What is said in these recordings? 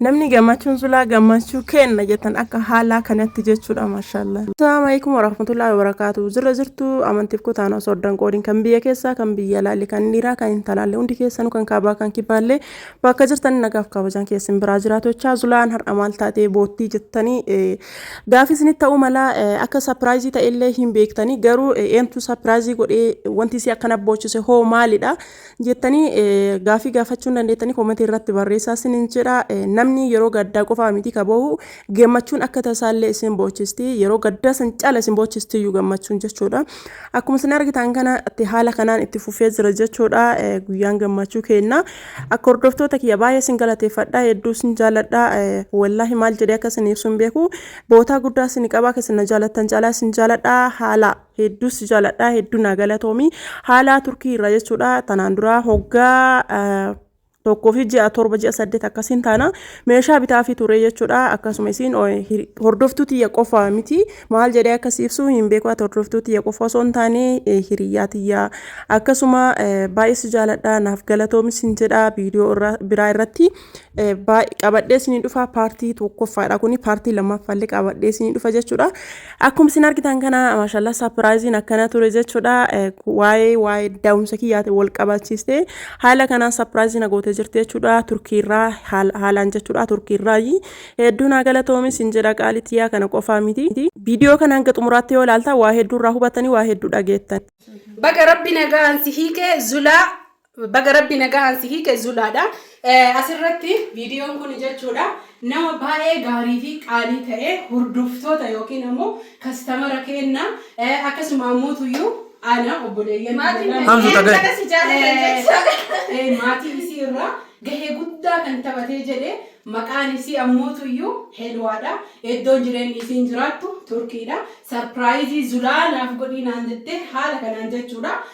Namni gammachuun zulaa gammachuu kenna jettan akka haalaa kanatti jechuudha maashaallah. Assalamu alaikum warahmatullahi wabarakatuh. Zirra zirtu amantiif kutaan osoo addan qoodin kan biyya keessaa kan biyya alaalle kan dhiiraa kan intalaalle hundi keessanu kan kaabaa kan kibaalle bakka jirtan nagaaf kabajaan keessin biraa jiraatu jechaa zulaan har'a maal taatee boottii jettanii gaafii isinitti ta'uu mala akka sapiraayizii ta'ellee hin beektanii garuu eentu sapiraayizii godhee wanti isii akkana boochise hoo maalidha jettanii gaafii gaafachuu hin dandeettanii koomatii irratti barreessaa isinin jedha namni yeroo gaddaa qofaa miti ka boohu gammachuun akka tasaallee isin boochisti yeroo gaddaa san caala isin boochisti iyyuu gammachuun jechuudha akkuma isin argitan kana itti haala kanaan itti fufee jira jechuudha guyyaan gammachuu keenna akka hordoftoota kiyya baay'ee isin galateeffadha hedduu isin jaaladha wallaahi maal jedhee akka isin ibsuun beeku bootaa guddaa isin qabaa akka isin na jaalattan caalaa isin jaaladha haala hedduu si jaaladha hedduu naa galatoomi haalaa turkii irraa jechuudha tanaan duraa hoggaa ah, tokkoo fi ji'a torba ji'a saddeet akkasiin taana meeshaa bitaa fi turee jechuudha akkasuma isiin o- hir- hordoftuu tiyya qofa miti maal jedhee akkas ibsu hin beeku ati hordoftuu tiyya qofa osoo hin taane eh, hiriyyaa tiyya akkasuma eh, baay'ee si jaaladha naaf galatoomi sin jedha viidiyoo irra- biraa irratti qabadhee isinii dhufa paartii tokkoffaadha kuni paartii lammaffaallee qabadhee isinii dhufa jechuudha akkuma isin argitan kana maashaallah sapiraayiziin akkana ture jechuudha waa'ee waa'ee daa'umsa kiyyaate wal qabachiiste haala kanaan sapiraayiziin agootee jirti jechuudha turkiirraa haalaan jechuudha turkiirraa hedduu naa galatoomi isin jedha qaalitiyyaa kana qofaa miti viidiyoo kana hanga xumuraatti yoo ilaalta waa hedduurraa hubatanii waa hedduu dhageettan. Baga rabbi nagaan si hiike zulaa Baga rabbi nagahaan si hiike zulaadha. Asirratti viidiyoon kun jechuudha nama baay'ee gaarii fi qaalii ta'e hordoftoota yookiin ammoo kastamara keenna akkasuma ammootuyyuu ana obboleeyyan Maatiin Hamzu Hamzu Tagan. Tagan. Tagan si jaalatan jechuudha. Eh, maatii isii irraa gahee guddaa kan taphatee jedhe maqaan isii ammootu iyyuu helwaadha eddoon jireenyi isiin jiraattu turkiidha sarpiraayizii zulaa naaf godhii naan jettee haala kanaan jechuudha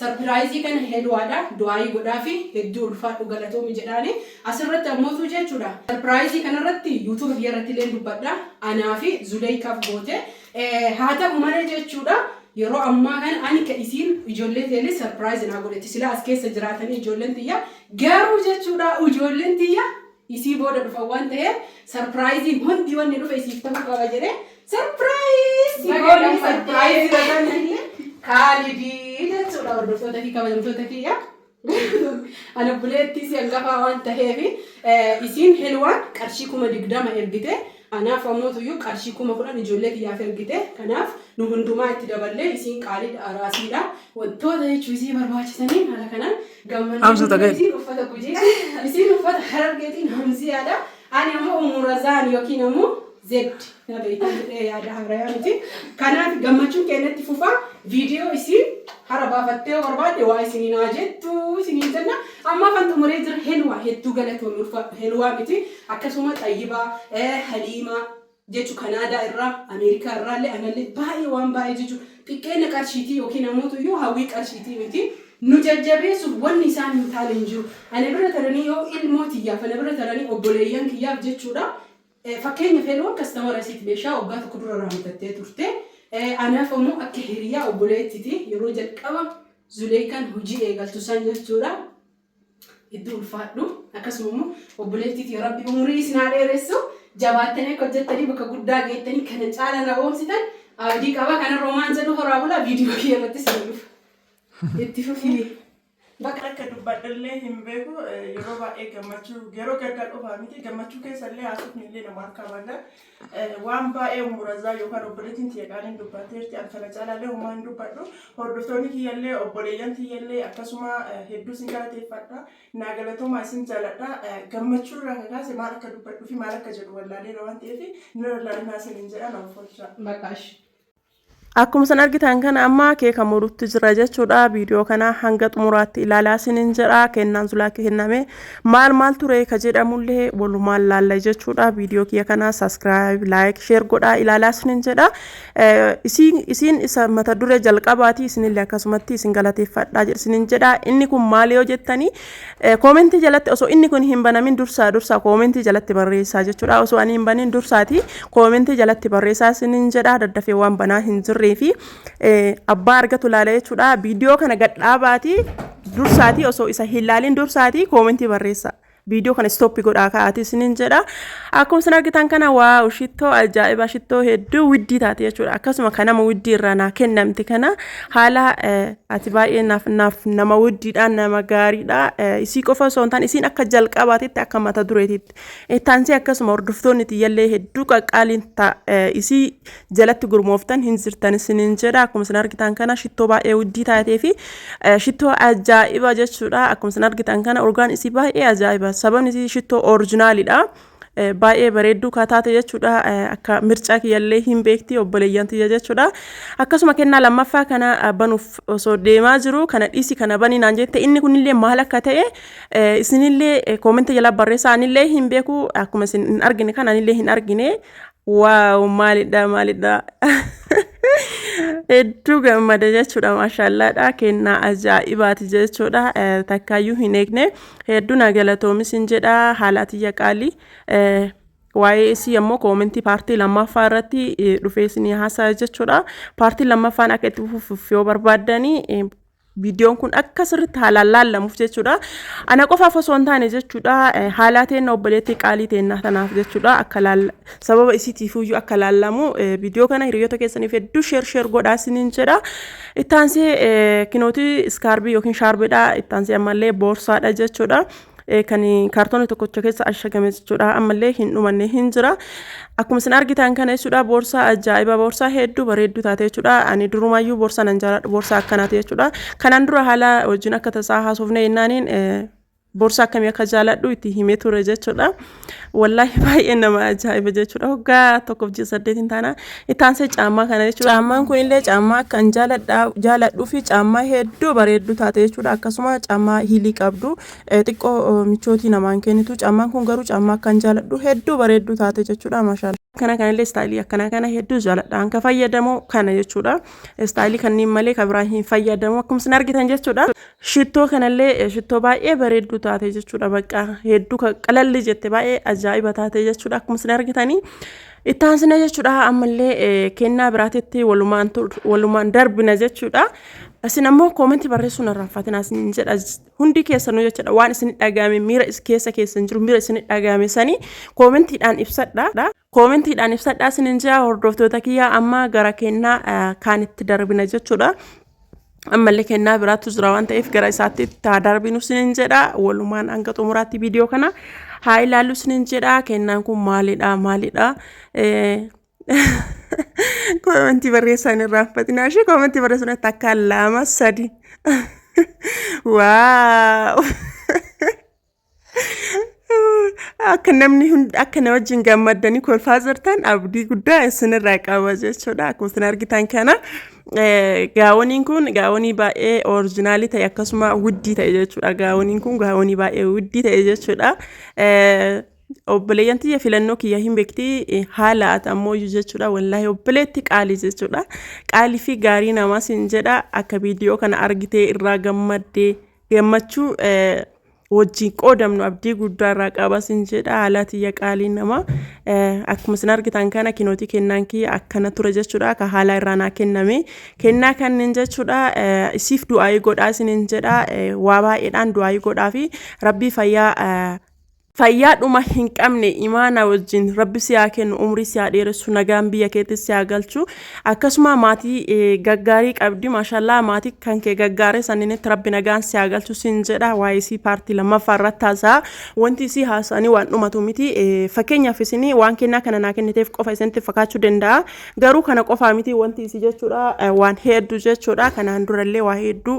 Sarpiraayizii kana Heluwaadha du'aayii godhaafi hedduu ulfaadhu galatoomi jedhaani asirratti ammootuu jeechuudha sarpiraayizii kanarratti youtube kiyyarrattilleen dubbadha anaafi zuleeykaaf goote haa ta'u malee jeechuudha yeroo ammaa kana ani ka isiin ijoollee teellee sarpiraayizi naa godhetti silaa as keessa jiraatanii ijoolleen tiyya garuu jechuudha ijoolleen tiyya isii booda dhufan waan ta'eef sarpiraayiziin hundi wanni dhufe isiif ta'uu qaba jedhee sarpiraayiz si goone sarpiraayiz jedhanii kaalidii jechuudha hordoftoota fi kabajamtoota kiyya. Ana buleettii si hangafaa waan ta'eef isiin helwaan qarshii kuma digdama ergite Anaaf ammoo tuyyuu qarshii kuma kudhan ijoollee kiyyaaf ergite. Kanaaf nu hundumaa itti daballee isiin qaaliidha, araasiidha. Wantoota jechuun isii barbaachisaniin haala kanaan gammannee Amsa guddaa tagay. isiin uffata gujiiti. Isiin uffata harargeetiin hamziyaadha. Ani ammoo ummu razaan yookiin ammoo zed na beeytan jedhee yaada haarayaa miti. Kanaaf gammachuun keenya itti fufaa. Viidiyoo isii hara baafattee yoo barbaadde waa isiniin haa jettu isiniin jenna. Ammaaf an xumuree jira. Helwaa hedduu galatoomi ulfaadhu. Helwaa miti. Akkasuma Xayyibaa, Haliimaa, jechu Kanaadaa irraa, Ameerikaa irraalle analle baay'ee waan baay'ee jechu xiqqeenna qarshiitii yookiin ammootu yoo hawwii qarshiitii miti. Nu jajjabeessuuf wanni isaan hin taane hin jiru. Ana bira taranii yoo ilmoo tiyyaaf, ana bira taranii obboleeyyan kiyyaaf jechuu dha. Fakkeenyaaf Heloon kastamara isiiti meeshaa waggaa tokko dura irraa bitattee turte. Anaaf ammoo akka hiriyaa obboleettiti yeroo jalqaba Zuleeykaan hujii eegaltu san jechuu dha. Hedduu ulfaadhu akkasuma immoo obboleettii tiyya rabbi umurii isin haa dheeressu jabaattanii akka hojjettanii bakka guddaa geettanii kana caala na goomsitan abdii qaba kana roomaan jedhu horaa bulaa viidiyoo kiyya irratti isin dhufa. Itti fufii. Bakka akka dubbadhallee hin beeku eh, yeroo baay'ee gammachuu yeroo gaddaa qofaa miti gammachuu keessallee haasofni illee nama harkaa badaa Waan baay'ee ummu razaa yookaan obboleettiin tiyya qaaliin dubbatteerti an kana caalaallee homaa hin dubbadhu hordoftoonni kiyyallee obboleeyyan tiyyallee akkasuma hedduu sin galateeffadha naa galatoomaa isin jaaladha gammachuu irraa kakaase maal akka dubbadhu fi maal akka jedhu wallaaleera waan ta'eef nirra laalinaa sin hin jedhan oolfoo jira. Maqaash. Akkuma san argitan kana amma keeka murutti jira jechuudha. Viidiyoo kana hanga xumuraatti ilaalaa isinin jedha. Kennaan zulaa kenname maal maal ture ka jedhamullee walumaan laalla jechuudha. Viidiyoo kiyya kana saskiraayib, laayik, sheer godhaa ilaalaa isinin jedha. Isiin isa mata duree jalqabaati isinillee akkasumatti isin galateeffadhaa isinin jedha. Inni kun maal yoo jettanii Koomentii jalatti osoo inni kun hin banamin dursaa dursaa koomentii jalatti barreessaa jechuudha. Osoo ani hin banin dursaati koomentii jalatti barreessaa isinin jedha daddafee waan banaa hin jirree fi abbaa argatu laala jechuudha. Viidiyoo kana gadhaabaati dursaati osoo isa hin laalin dursaati koomentii barreessaa. Viidiyoo kana istooppi godhaa ka'aati isinin jedha. Akkuma isin argitan kana waaw shittoo ajaa'ibaa shittoo hedduu widdii taate jechuudha. Akkasuma kan nama widdii irraa naa kennamte kana haala ati baay'ee naaf naaf nama widdiidha nama gaariidha. Isii qofa osoo hin taane isiin akka jalqabaatitti akka mata dureetitti. Ittaansee akkasuma hordoftoonni tiyyallee hedduu qaqqaaliin ta'a. Isii jalatti gurmooftan hin jirtan isiniin jedha akkuma isin argitan kana shittoo baay'ee uddii taatee fi shittoo ajaa'iba jechuudha akkuma isin argitan kana urgaan isii baay'ee ajaa'iba sababni isii shittoo orijinaalidha baay'ee bareedduu kaa taate jechuudha akka mircaa kiyyallee hin beekti obboleeyyan tiyya jechuudha akkasuma kennaa lammaffaa kana banuuf osoo deemaa jiru kana dhiisi kana banii naan jette inni kunillee maal akka ta'e isinillee koomenta jala barreessaa anillee hin beeku akkuma isin hin argine kan anillee hin argine Waaw maalidha maalidha hedduu gammada jechuudha maashaallaadha kennaa ajaa'ibaati jechuudha takkaayyuu hin eegne hedduu na galatoomis hin jedha haala atiyya qaalii waa'ee isii ammoo koomentii paartii lammaffaa irratti dhufee isinii haasaa jechuudha paartii lammaffaan akka itti fufuuf yoo barbaaddanii viidiyoon kun akka sirriitti haalaan laallamuuf jechuudha. Ana qofaaf osoo hin taane jechuudha haalaa teenna obboleettii qaalii teennaa tanaaf jechuudha akka sababa isiitiifuyyuu akka laallamu viidiyoo kana hiriyoota keessaniif hedduu sheer sheer godhaa isiniin jedha. Ittaansee kinooti iskaarbii yookiin shaarbeedha ittaansee ammallee boorsaadha jechuudha. kan kaartoona tokkocha keessa ashagame jechuudha ammallee hin dhumanne hin jira akkuma isin argitan kana jechuudha boorsaa ajaa'iba boorsaa hedduu bareedduu taate jechuudha ani durumaayyuu boorsaa nan jaaladha boorsaa akkanaati jechuudha kanaan dura haala wajjin akka tasaa haasofne jennaaniin boorsaa akkamii akka jaaladhu itti himee ture jechuudha. Wallaahi baay'ee nama ajaa'iba jechuudha. Waggaa tokkoof ji'a saddeetiin taana itti aansee caammaa kana jechuudha. Caammaan kun illee caammaa akka hin jaaladhuu fi caammaa hedduu bareedduu taate jechuudha. Akkasuma caammaa hiilii qabdu xiqqoo michootii namaan kennitu. Caammaan kun garuu caammaa akka hin jaaladhu hedduu bareedduu taate jechuudha. Maashaalla. Kana kanallee istaayilii akkanaa kana hedduu jaaladha. Kan fayyadamu kana jechuudha. Istaayilii kanneen malee kan biraa hin fayyadamu. Akkuma isin argitan jechuudha. Shittoo kanallee shittoo baay'ee bareedduu taate jechuudha bakka hedduu qalalli jette baay'ee ajaa'iba taate jechuudha akkuma isin argitanii. Itti aansina jechuudha ammallee kennaa biraatitti walumaan darbina jechuudha. Isin ammoo koomentii barreessuun irraa fatina isin jedha hundi keessanuu jechuudha waan isin dhaga'ame miira keessa keessan jiru miira isin dhaga'ame sanii koomentiidhaan ibsadha. Koomentiidhaan ibsadhaa sinin jaa hordoftoota kiyyaa amma gara kennaa eh, kaan itti darbina jechuudha. Ammallee kennaa biraatu jira waan ta'eef gara isaatti itti haa darbinu sinin jedha. Walumaan hanga xumuraatti viidiyoo kana haa ilaallu sinin jedha. Kennaan kun maalidha maalidha? Eh, Koomentii barreessaa hin irraanfatinaa ishee koomentii barreessuun itti akka lama sadi. Waaw! akka namni hund- akka na wajjin gammaddanii kolfaa jirtan abdii guddaa isinirraa qaba jechuudha akkuma isin argitan kana eh, gaawoniin kun gaawonii baay'ee orijinaalii ta'e akkasuma wuddii ta'e jechuudha gaawoniin kun gaawonii baay'ee wuddii ta'e jechuudha Eh, obboleeyyan tiyya filannoo kiyya hin beekti eh, haala ati ammooyyu jechuudha wallaahi obboleetti qaalii jechuudha qaalii fi gaarii namaa sin jedha akka viidiyoo kana argitee irraa gammaddee gammachuu eh, wajjin qoodamnu abdii guddaa irraa qaba sin jedha haalaa tiyya qaalii namaa Eh, akkuma isin argitan kana kinootii kennaan kiyya akkana ture jechuudha ka haalaa irraa naa kenname kennaa kanneen jechuudha eh, isiif du'aayii godhaa isinin jedha eh, waa baay'eedhaan du'aayii godhaa fi rabbii fayyaa eh, Fayyaa dhuma hin qabne imaanaa wajjin rabbi si haa kennu umrii si haa dheeressu nagaan biyya keetti si haa galchu akkasuma maatii eh, gaggaarii qabdi maashallaa maatii kan kee gaggaaree sanniinitti rabbi nagaan si haa galchu siin jedha waa'ee isii paartii lammaffaa irratti haasa'a wanti isii haasa'anii waan dhumatu miti Eh, fakkeenyaaf isinii waan kennaa kana naa kenniteef qofa isinitti fakkaachuu danda'a Garuu kana qofaa miti wanti isi jechuudha waan hedduu jechuudha kanaan durallee waa hedduu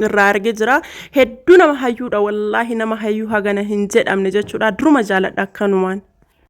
irraa arge jira hedduu nama hayyuudha wallaahi nama hayyuu hagana hin jedhamne jechuudha duruma jaaladha akkanumaan.